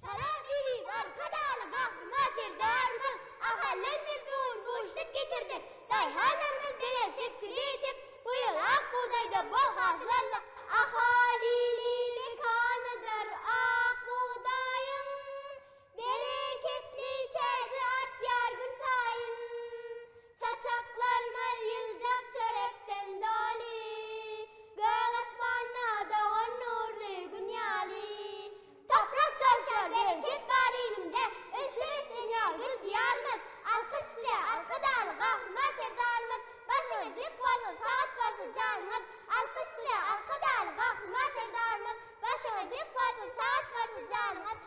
Salam Eziz Arkadagly Gahryman Serdarymyz! Ahallar biz bu gün guşluk getirdik. Daýhanlarymyz belent sepgide ýetip, bu ýyl ak bugdaýdan bol hasyl aldyk. Ahalini mekanydyr ak bugdaýyň, Bereketli çägi artýar günsaýyn. Saçaklarymyz ýyljak çörekden doly, Gök asmanda dogan nurly Gün ýaly. Toprak joşýar, bereket bar ilimde, Ösüp beslenýär gül Diýarymyz. Alkyş size, Arkadagly Gahryman Serdarymyz! Başyňyz dik bolsun, sagat bolsun janyňyz! Alkyş size, Arkadagly Gahryman Serdarymyz! Başyňyz dik bolsun, sagat bolsun janyňyz!